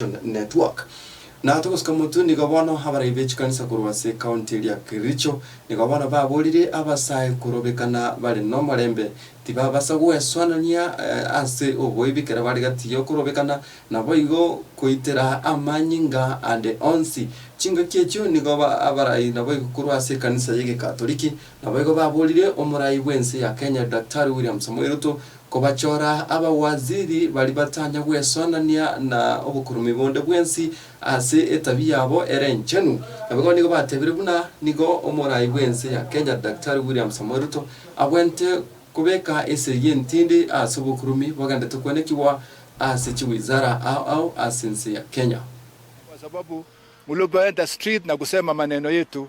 Nation Network. Na togosuka motwe, nigo bono abarai be chikanisa korwa ase ekaunti eria ya Kericho nigo bono baborire abasae korobekana bare nomorembe, tibabasa gwesoanania ase oboibi ekero bare gati yokorobekana, naboigo koitera amanyinga ande onsi. Chingaki echio nigo abarai naboigo korwa ase ekanisa y'Egegatoriki, Naboigo baborire omorai bw'ense ya Kenya Daktari William Samoei Ruto kobachora abawaziri baria batanya gwesonania na obokurumobi bonde bwensi ase etabia yabo ere enchenu. Naboigo nigo batebire buna nigo omorai bw'ense ya Kenya Daktari William Samoei Ruto abwenerete kobeka esegi y'entindi ase obokurumobi bogenderete kwenekigwa ase chiwizara ao ao ase ense ya Kenya. Kwa sababu mlikuenda street na kusema maneno yetu